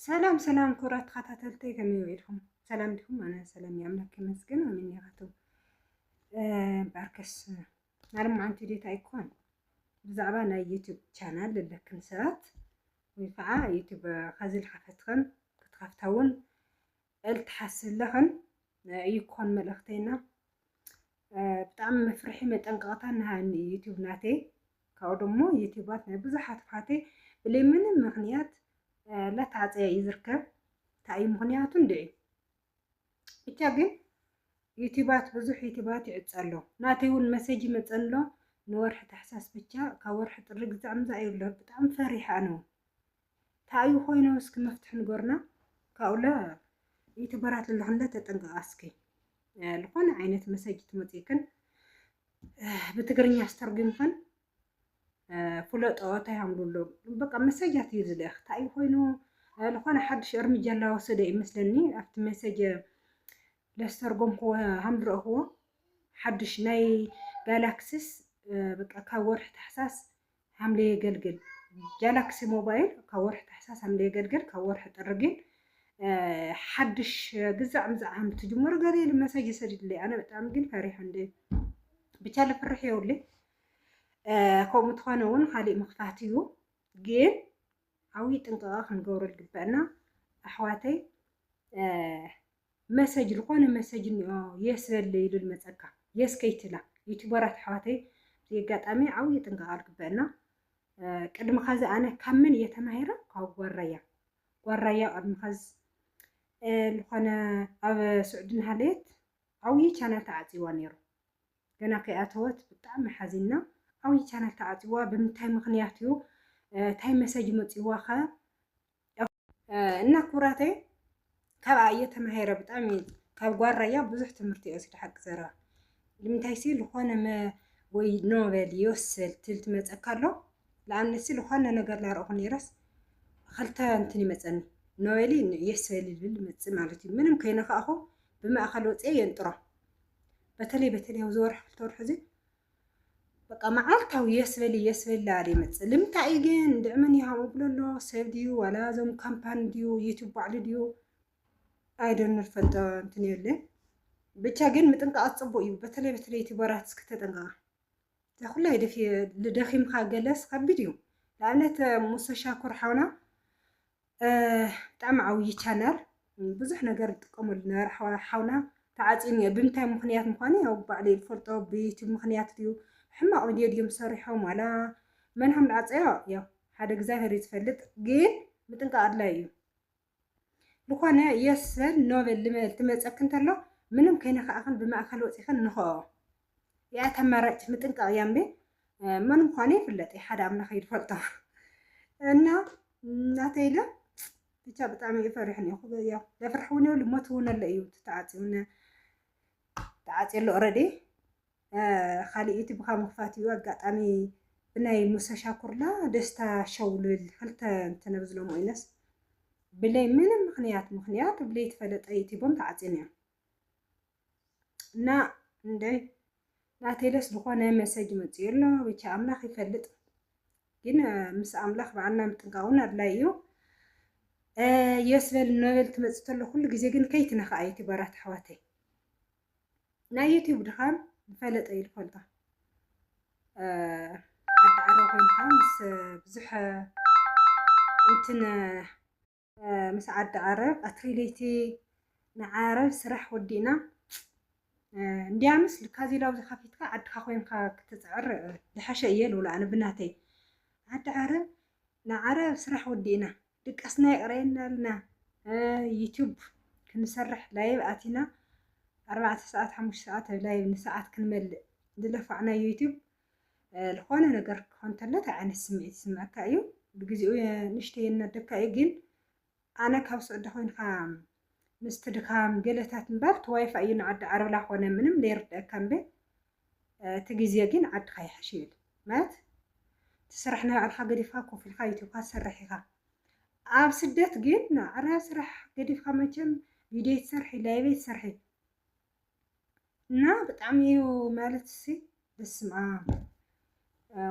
ሰላም ሰላም ክቡራት ተኸታተልተይ ከመይ ውዒልኩም? ሰላም ዲኹም? ኣነ ሰላም እየ ኣምላክ ይመስገን። ኣሜን ያቱ ባርከስ ናለ መዓንቲ ዴታ ኣይኮን ብዛዕባ ናይ ዩቱብ ቻናል ዘለክን ሰባት ወይ ከዓ ዩቱብ ከዚ ዝሓፈትክን ክትከፍታ እውን ኣይልትሓስለኽን እዩ ክኾን መልእኽተይና ብጣዕሚ መፍርሒ መጠንቀቕታ ንሃኒ እዩ ዩቲዩብ ናተይ ካብኡ ደሞ ዩቲዩባት ናይ ብዙሓት ኣሕዋተይ ብለይ ምንም ምኽንያት ለታዕፀያ እዩ ዝርከብ እንታይ እዩ ምኽንያቱ እንድዒ ብቻ ግን ዩቲባት ብዙሕ ዩቲባት ይዕፀ ኣሎ ናተይ እውን መሰጅ ይመፀን ኣሎ ንወርሒ ታሕሳስ ብቻ ካብ ወርሒ ጥሪ ግዛዕ ምዛእ እዩ ኣሎ ብጣዕሚ ፈሪሓ ነው ታእዩ ኮይኑ እስኪ መፍትሒ ንገሩና ካብኡለ ዩቱበራት ዘለኽንለ ተጠንቀቃ እስኪ ዝኾነ ዓይነት መሰጅ ትመፅእክን ብትግርኛ ኣስተርጉምክን ፍለጦ እንታይ ሃምሉሎ በቃ መሰጃት እዩ ዝልእኽ እንታይ እዩ ኮይኑ ዝኾነ ሓድሽ እርምጃ እናወሰደ እዩ መስለኒ ኣብቲ መሰጅ ለስተርጎምክዎ ሃምዝረእኽዎ ሓድሽ ናይ ጋላክሲስ በቃ ካብ ወርሒ ታሕሳስ ሓምለ የገልግል ጋላክሲ ሞባይል ካብ ወርሒ ታሕሳስ ሓምለ የገልግል ካብ ወርሒ ጥሪ ግን ሓድሽ ግዛዕ ምዛዕ ሃም ትጅምሩ ገለ ኢሉ መሰጅ ይሰድድለይ ኣነ ብጣዕሚ ግን ፈሪሐ እንደ ብቻ ልፍርሕ የውለይ ከምኡ ትኾነ እውን ካሊእ ምኽፋት እዩ ግን ዓብይ ጥንቃቐ ክንገብሮ ዝግበአና ኣሕዋተይ መሰጅ ልኾነ መሰጅ እኒኦ የስ በል ኢሉ ልመፀካ የስ ከይትላ ዩቱበራት ኣሕዋተይ እዚ ኣጋጣሚ ዓብዪ ጥንቃቐ ልግበእና ቅድሚ ኸዚ ኣነ ካብ መን እየ ተማሂረ ካብ ጓራያ ጓራያ ቅድሚ ኸዚ ልኾነ ኣብ ስዑዲ ናሃለየት ዓብዪ ቻናል ተዓፅይዋ ነይሩ ገና ከይኣተወት ብጣዕሚ ሓዚና ዓብዪ ቻናል ተዓፅዋ ብምንታይ ምኽንያት እዩ እንታይ መሰጅ መፅዋኸ እና ክብራተይ ካብኣ እየ ተማሂረ ብጣዕሚ ካብ ጓል ራያ ብዙሕ ትምህርቲ እየ ወሲደ ሓቂ ዘረባ ንምንታይ ሲ ዝኾነ ወይ ኖበል ይወስል ትል ትመፀካ ኣሎ ንኣብነት ሲ ዝኾነ ነገር ላረእኹ ነይረስ ክልተ እንትን ይመፀኒ ኖበሊ የሰል ይብል ይመፅእ ማለት እዩ ምንም ከይነካእኹ ብማእኸል ወፅአ የንጥሮ በተለይ በተለይ ኣብዚ ወርሒ ክልተ ወርሒ እዚ በቃ መዓልታዊ የስ በሊ የስ በሊ ዳኣለ ይመጽእ ልምንታይ እዩ ግን እንድዒ መን እዩ ሃምኡ ብሎ ኣሎ ሰብ ድዩ ዋላ እዞም ካምፓኒ ድዩ ዩቱብ ባዕሉ ድዩ ኣይዶን ንፈልጦ እንትን የለን ብቻ ግን ምጥንቃቕ ጽቡቅ እዩ በተለይ በተለይ ዩቱበራት እስኪ ተጠንቀቃ ተኩላይ ደኺምካ ገለስ ከቢድ እዩ ንኣብነት ሙሰ ሻኩር ሓውና ብጣዕሚ ዓብዪ ቻናል ብዙሕ ነገር ዝጥቀመሉ ነበረ ሓውና ተዓፅዩ እኒኦ ብምንታይ ምክንያት ምኳኑ ያው ባዕሉ ይፈልጦ ብዩቱብ ምክንያት ድዩ ሕማቕ ቪድዮ ድዮም ሰሪሖም ዋላ መን ሃም ዝዓፀዮ ያው ሓደ እግዚኣብሔር እዩ ዝፈልጥ ግን ምጥንቃቕ ኣድላይ እዩ ዝኾነ የሰን ኖበል ልመል ትመፀክ እንተሎ ምንም ከይነካእኽን ብማእኸል ወፂኽን ንኸኦ ያኢ ተመረጭ ምጥንቃቅ እያ እምበይ መን ምኳኑ ይፍለጥ እዩ ሓደ ኣምላኽ እዩ ዝፈልጦ እና ናተይ ለ ብቻ ብጣዕሚ እዩ ፈሪሕ ኒኹ ያው ለፍራሕ እውን የብሉ ሞት እውን ኣሎ እዩ ተዓፅዩነ ተዓፅዩ ኣሎ ኦረዲ ካሊእ እቲ ብካ ምክፋት እዩ ኣጋጣሚ ብናይ ሙሰ ሻኩርላ ደስታ ሸው ልብል ክልተ እንተነብዝሎም ወይነስ ብለይ ምንም ምክንያት ምክንያት ብለይ ተፈለጠ ዩቲቦም ተዓፅዩን እዮም እና እንደ ናተይ ደስ ዝኾነ መሰጅ መፅኡ ኣሎ ብቻ ኣምላኽ ይፈልጥ ግን ምስ ኣምላኽ በዓልና ምጥንቃውን ኣድላይ እዩ የስበል ነበል ትመፅእ ተሎ ኩሉ ግዜ ግን ከይትነኽኣ ዩቲበራት ኣሕዋተይ ናይ ዩቲዩብ ድኻም ዝፈለጠ እዩ ዝፈልጦ ዓዲ ዓሮ ኮይንካ ምስ ብዙሕ እንትን ምስ ዓዲ ዓረብ ቀትሪ ለይቲ ንዓረብ ስራሕ ወዲእና እንድያምስ ልካዚ ላብዚ ከፊትካ ዓድካ ኮንካ ክትፅዕር ዝሐሸ እየ ልብሎ ኣነ ብናተይ ዓዲ ዓረብ ንዓረብ ስራሕ ወዲእና ድቃስና የቅረየና ኣልና ዩቱብ ክንሰርሕ ላይብ ኣቲና ኣርባዕተ ሰዓት ሓሙሽተ ሰዓት ላይብ ንሰዓት ክንመልእ ዝለፋዕና ዩቱብ ልኾነ ነገር ክኾን ተሎ እንታይ ዓይነት ስምዒት ይስምዐካ እዩ? ብግዜኡ ንእሽተይ የናደካ እዩ ግን ኣነ ካብ ሱዑዲ ኮይንካ ምስቲ ድኻም ገለታት እምበር እቲ ዋይፋይ እዩ ንዓዲ ዓረብ ላኾነ ምንም ለይርደአካ እምበ እቲ ግዜ ግን ዓድኻ ይሓሽ ይብል ማለት እቲ ስራሕ ናይ ባዕልካ ገዲፍካ ኮፍ ኢልካ ዩቲብካ ትሰርሕ ኢኻ ኣብ ስደት ግን ኣረ ስራሕ ገዲፍካ መቸም ቪድዮ ትሰርሒ ላይቭ ትሰርሒ እና ብጣዕሚ እዩ ማለት እሲ በስመ ኣብ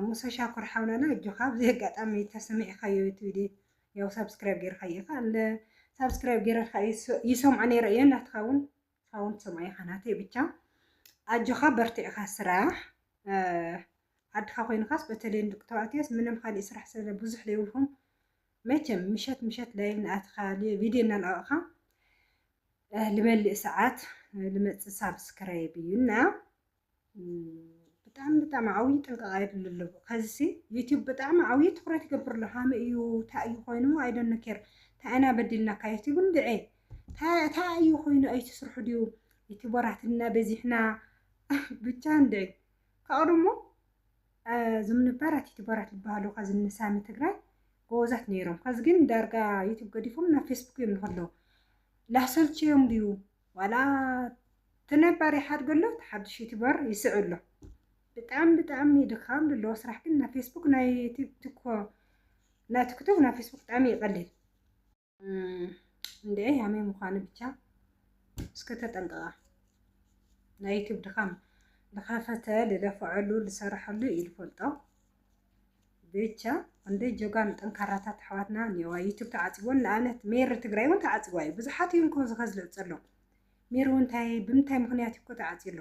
ሙሰ ሻኩር ሓውናና እጆኻ ኣብዚ ኣጋጣሚ ተሰሚዕካዮ እቲ ቪድዮ ያው ሳብስክራይብ ጌርካ ኢኻ እንደ ሳብስክራይብ ጌርካ ይሰምዖ ነይረ እየ ናትካ እውን ሳውን ትሰምዖ ኢኻ ናተይ ብቻ ኣጆኻ በርቲዕካ ስራሕ ዓድኻ ኮይንካስ በተለይ ንደቂ ተባዕትዮስ ምንም ካልእ ስራሕ ስለ ብዙሕ ዘይብልኩም መቸም ምሸት ምሸት ላይቭ ናኣትኻ ቪድዮ እናልቐቕኻ ልመልእ ሰዓት ልመፅእ ሳብስክራይብ እዩ እና ብጣዕሚ ብጣዕሚ ዓብዪ ጥንቃቐ የድሊ ኣሎ ከዚሲ ዩቲዩብ ብጣዕሚ ዓብዪ ትኩረት ይገብር ኣሎ ሃመ እዩ እንታይ እዩ ኮይኑ ኣይደነ ኬር እንታይ ኢና በዲልናካ ዩቲዩብ እንድዐ እንታይ እዩ ኮይኑ ኣይትስርሑ ድዩ ዩቲዩበራት እና በዚሕና ብቻ እንድዐ ካብኡ ደሞ እዞም ነባራት ዩቱበራት ዝበሃሉ ከዚ እኒ ሳሚ ትግራይ ጎበዛት ነይሮም ከዚ ግን ዳርጋ ዩቱብ ገዲፎም ናብ ፌስቡክ እዮም ንከለዉ ላሰልቸዮም ድዩ ዋላ እቲ ነባር ይሓድጎ ኣሎ እቲ ሓዱሽ ዩቱበር ይስዕ ኣሎ ብጣዕሚ ብጣዕሚ ድኻም ዘለዎ ስራሕ ግን ናብ ፌስቡክ ናይ ቲክቶክ ናብ ፌስቡክ ብጣዕሚ ይቐልል እንዴ ያሜ ምዃኑ ብቻ እስከ ተጠንቀቃ ናይ ዩቱብ ድኻም ልኸፈተ ልለፈዐሉ ልሰረሐሉ እዩ ልፈልጦ ብቻ እንደ ጆጋን ጠንካራታት ኣሕዋትና እኒዋ ዩቱብ ተዓፅቦን ንኣብነት ሜሪ ትግራይ እውን ተዓፅቦ እዩ ብዙሓት እዮም ከ ዝኸዝልዕ ዘሎ ሜሪ እውን እንታይ ብምንታይ ምክንያት እዩ ኮ ተዓፅዩ ኣሎ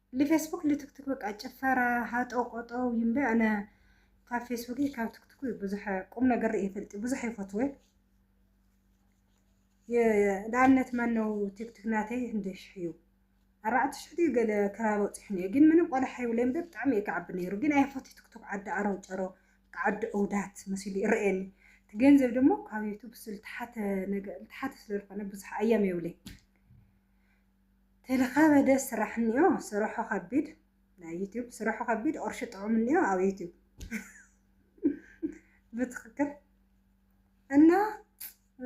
ልፌስቡክ ልትክቱክ በቃ ጭፈራ ሃጠው ቆጠው እዩ እምበይ ኣነ ካብ ፌስቡክ ካብ ትክቱክ እዩ ብዙሕ ቁም ነገር ርእየ ፈልጢ ብዙሕ ይፈትወ ንኣብነት ማነው ቲክቱክ ናተይ ህንደ ሽሕ እዩ ኣርባዕተ ሽሕ ድዩ ገለ ከባቢ ወፂሑ ነዮ ግን ምንም ቆላሕ ይብለይ እምበር ብጣዕሚ እየ ክዓቢ ነይሩ ግን ኣይፈቱ ትክቱክ ዓዲ ኣረው ጨሮ ዓዲ እውዳት መሲሉ ይረአየኒ እቲ ገንዘብ ደሞ ካብ ዩቱብ ዝተሓተ ነገር ዝተሓተ ስለዝኾነ ብዙሕ ኣያም የብለይ ተለካበደ ስራሕ እኒኦ ስርሑ ከቢድ ናይ ዩቲዩብ ስርሑ ከቢድ ቅርሹ ጥዑም እኒኦ ኣብ ዩቲዩብ ብትክክል እና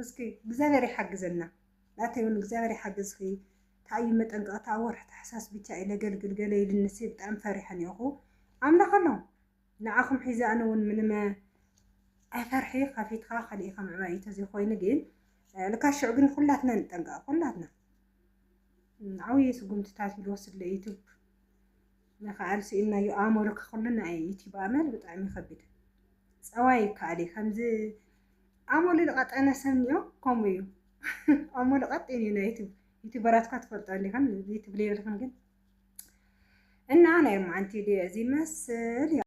እስኪ እግዚኣብሔር ይሓግዘና ናተይ እውን እግዚኣብሔር ይሓግዝኪ ታዩ መጠንቀቅታ ወርሒ ታሕሳስ ብቻ እዩ ለገልግል ገለ ኢልኒ ሲ ብጣዕሚ ፈሪሐ እኒኦኩ ኣምላክ ኣሎ ንዓኹም ሒዘ ኣነ ውን ምንመ ኣይፈርሒ ከፊትኻ ከሊእኻ ምዕባይ እዩ ተዘይ ኮይኑ ግን ልካ ሽዑ ግን ኩላትና ንጠንቀቅ ኩላትና ዓብይ ስጉምትታት እዩ ዝወስድ ለዩቱብ ንክኣል ስኢንናዮ ኣእመሉ ከክሉ ናይ ዩቱብ ኣመል ብጣዕሚ ይከብድ ፀባይ ይከኣል እዩ ከምዚ ኣመሉ ዝቀጠነ ሰብ እኒኦ ከምኡ እዩ ኣመሉ ቀጢን እዩ ናይ ዩቱብ ዩቱበራት እኳ ትፈልጦ እንዲኹም ዩቱብ ሌብልኹም ግን እና ናይ ማዓንቲ እዚ መስል